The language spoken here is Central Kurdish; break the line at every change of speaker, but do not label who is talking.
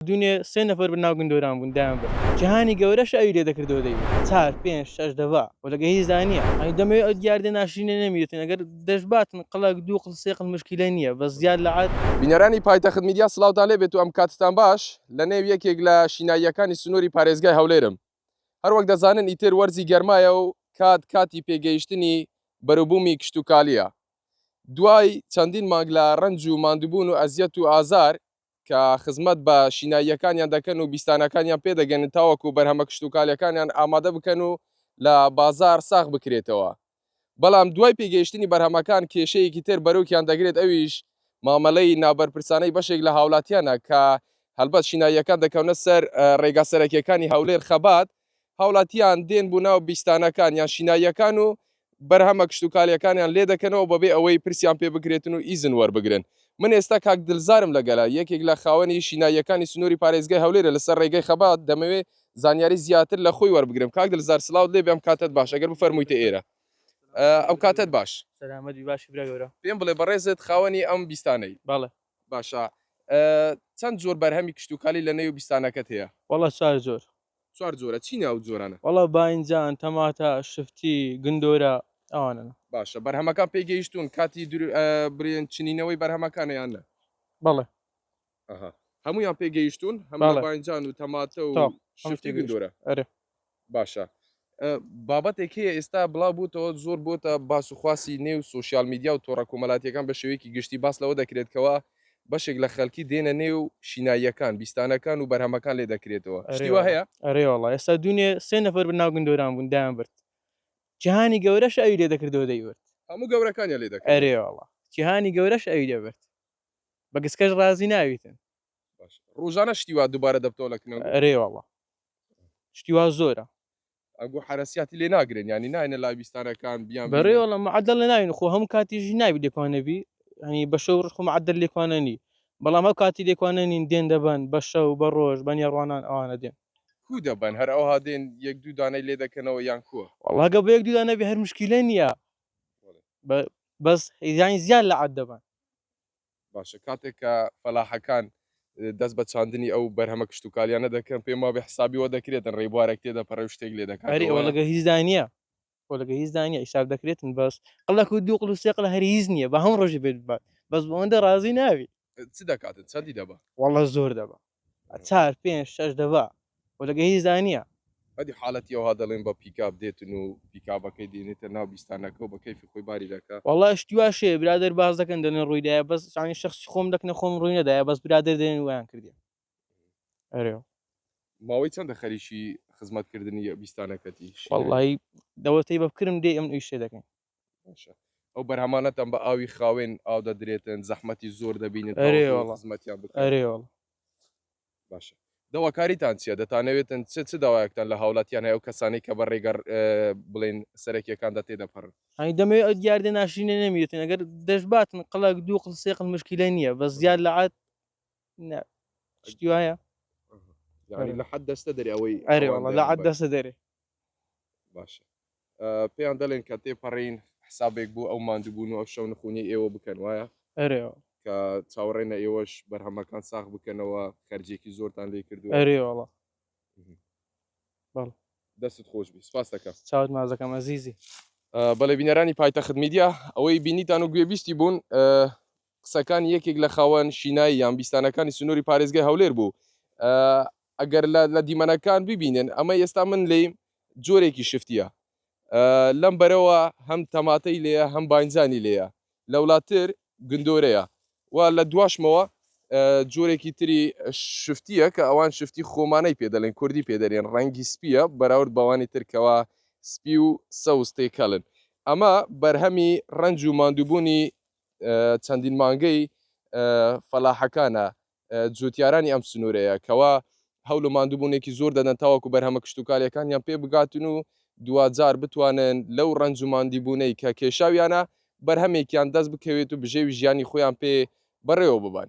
دونێ سێ نەفەر بە ناو گندۆران بوون دایان برد جەهانی گەورەش ئەوی لێ دەکردەوە دەی چار پێنج شەش دەڤا و لەگە هیچ دا نیە ئەی دەمەوێ ئەو دیاردە ناشرینە نەمیتن ئەگەر دەشباتن قڵەک دوو قڵ سێ قڵ مشکیلە نیە بەس زیاد لە. بینەرانی پایتەخت میدیا
سڵاوتان لێ بێت و ئەم کاتتان باش لە نێو یەکێک لە شیناییەکانی سنووری پارێزگای هەولێرم هەر وەک دەزانن ئیتر وەرزی گەرمایە و کات کاتی پێ گەیشتنی بەرو بوومی کشتوکالیە دوای چەندین مانگ لە رەنج و ماندووبوون و ئەزیەت و ئازار کە خزمەت بە شیناییەکانیان دەکەن و بیستانەکانیان پێ دەگەنن تاوەکو بەرهەمە کشتوکالیەکانیان ئامادە بکەن و لە بازار ساغ بکرێتەوە بەڵام دوای پێگەیشتنی بەرهەمەکان کێشەیەکی تر بەرۆکیان دەگرێت ئەویش مامەلەی نابەرپرسانەی بەشێک لە هاولاتیانە کە هەلبەت شیناییەکان دەکەونە سەر رێگا سەرەکیەکانی هەولێر خەبات هاوڵاتیان دێن بۆ ناو بیستانەکان یان شیناییەکان و بەرهەمە کشتوکالیەکانیان لێ دەکەنەوە بەبێ ئەوەی پرسیان پێ بکرێتن و ئیزن وەربگرن من ئێستا کاک دلزارم لەگەلە یەکێک لە خاوەنی شیناییەکانی سنووری پارێزگای هەولێرە لەسەر ڕێگەی خەبات دەمەوێ زانیاری زیاتر لە خۆی وەربگرم کاک دلزار سلاوت لێ بێ ئەم کاتەت باش ئەگەر بفەرموویتە ئێرە ئەو کاتەت باش سەلامەت باش برا
گەورە پێم بڵێ بەڕێزت
خاوەنی ئەم بیستانەی بەڵێ باشە چەند زۆر بەرهەمی کشتوکالی لە نێو بیستانەکەت هەیە وەڵا چوار زۆر
چوار جۆرە چین
ئەو جۆرانە. وەڵا باینجان
تەماتە شفتی گندۆرە ئەوانەن. باشە بەرهەمەکان
پێی گەیشتون کاتی برێن چنینەوەی بەرهەمەکانە یان نە. بەڵێ.
ئەها
هەموویان پێی گەیشتون هەم باینجان و تەماتە و شفتی گندۆرە. ئەرێ.
باشە
بابەتێک هەیە ئێستا بڵاو بووتەوە زۆر بۆتە باس و خواسی نێو سوسیال میدیا و تۆڕە کۆمەلاتیەکان بە شێوەیەکی گشتی باس لەوە دەکرێت کەوا بەشێک لە خەلکی دێنە نێو و شیناییەکان بیستانەکان و بەرهەمەکان لێ دەکرێتەوە شتی وا هەیە؟ ئەرێ وەڵا ئێستا
دوونێ سێ نەفەر بە ناو گندۆران بوون دایان برد جیهانی گەورەش ئەوی لێ دەکردەوە دەیبرد هەموو گەورەکانیان
لێ دەکردەوە ئەرێ وەڵا جیهانی
گەورەش ئەوی دەبرد بە گسکەش ڕازی نابیتن. باش ڕوژانە
شتی وا دووبارە دەبتەوە لە کنەوە ئەرێ وەڵا
شتی وا زۆرە ئەگو
حرەسیاتی لێ ناگرن ینی ناینە لا بیستانەکان بیان بەڕێوەڵە معدل لە
ناوین خۆ هەموو کاتیژی ناوی لێکوانەبی هەنی بە شەو ڕخ معدل لێکوانەنی بەڵام ئەو کاتی لێکوانەنین دێن دەبن بە شەو بە ڕۆژ بە نێڕوانان ئەوانە دێن کو دەبن هەر
ئەوها دێن یەک دوو دانەی لێ دەکەنەوە یان کووە وڵاگە بە یەک دودا نەبی
هەر مشکیلە نییە بەس هیزانی زیاد لە عاد دەبن باشە
کاتێک کە فەلاحەکان دەست بە چاندنی ئەو بەرهەمە کشتوکالیانە دەکەن پێم وابێ حسابی وە دەکرێتن ڕێبوارێک تێ دەپەڕێ و شتێک لێ دەکات ئەری ئەوە لەگە هیچ دای نییە
خۆ لەگە هیچ دای نیە حیساب دەکرێتن بەس قڵەک و دوو قڵ و سێ قڵ هەر هیچ نییە بە هەموو ڕۆژی بێت بات بەس بۆ ئەوەندە ڕازی نابی چ دەکاتن
چەندی دەبا واللە زۆر دەبا
چار پێنج شەش دەبا و لەگە هیچ دا نیە. ئەدی حالەتی
ئەوها دەڵێن بە پیکاب دێتن و پیکابەکەی دێنێتە ناو بیستانەکە و بە کەیفی خۆی باری دەکا. وەڵا شتی واش هەیە
برادەر باس دەکەن دەڵێن ڕووی دایە بەس یانی شەخسی خۆم دەکنە خۆم ڕووی نەدایە بەس برادەر دەێن وایان کردیە ئەرێوە.
ماوەی چەندە خەریکی خزمەت کردنی بیستانەکەتی؟ وەڵاهی
دەوەتەی بە بکرم دێ ئەمن ئیشێ دەکەین. باشە
ئەو بەرهەمانەتان بە ئاوی خاوێن ئاو دەدرێتن زەحمەتی زۆر دەبینن خزمەتیان بکەێ باشە داواکاریتان چیە دەتانەوێتن چ چ داوایەکتان لە هاوڵاتیان هەیە و کەسانی کە بە ڕێگەر بڵێن سەرەکیەکان دە تێدەپەڕن هەنی دەمەوێت ئەو دیاردە
ناشرینە نەمیێتن ئەگەر دەشباتن قەڵک دوو قسێقل مشکیلە نییە بە زیاد لە عات نا شتی وایە یعنی
لە حد دەستە دەری ئەوەی ئەرێ وڵە لە عاد دەستە
دەری باشە
پێیان دەڵێن کە تێپەڕین حسابێک بوو ئەو مادوبوون و ئەو شەو نخونی ئێوە بکەن وایە ئەرێ کە چاوەڕێنە ئێوەش بەرهەمەکان ساخ بکەنەوە خەرجێکی زۆرتان لێ کردو ئەرێ
وڵە دەستت خۆش بی سپاس
دەکە چاوت مازەکەم ئەزیزی
بەڵێ
بینەرانی پایتەخت میدیا ئەوەی بینیتان و گوێبیستی بوون قسەکانی یەکێک لە خاوەن شینایی یان بیستانەکانی سنووری پارێزگای هەولێر بوو ئەگەر لە دیمەنەکان ببینن ئەمەی ئێستا من لێیم جۆرێکی شفتیە لەم بەرەوە هەم تەماتەی لێە هەم باینجانی لێە لەولاتر گندۆرەیە و لە دواشمەوە جۆرێکی تری شفتیە کە ئەوان شفتی خۆمانەی پێ دەڵێن کوردی پێدەێن ڕەنگی سپیە بەراورد بەوانی ترکەوە سپی و سەوز تێکەڵن ئەمە بەرهەمی ڕنج و مادووبوونی چەندین مانگەی فەلاحەکانە جوتیارانی ئەم سنوورەیە کەوا هەول و ماندووبوونێکی زۆر دەدەن تاوەکو بەرهەمە کشتتوکاریەکانیان پێ بگاتن و دواجار بتوانن لەو ڕنج و ماندیبوونەی کە کێشاویانە بەرهەمێکیان دەست بکەوێت و بژێوی ژیانی خۆیان پێ بەڕێوە ببن.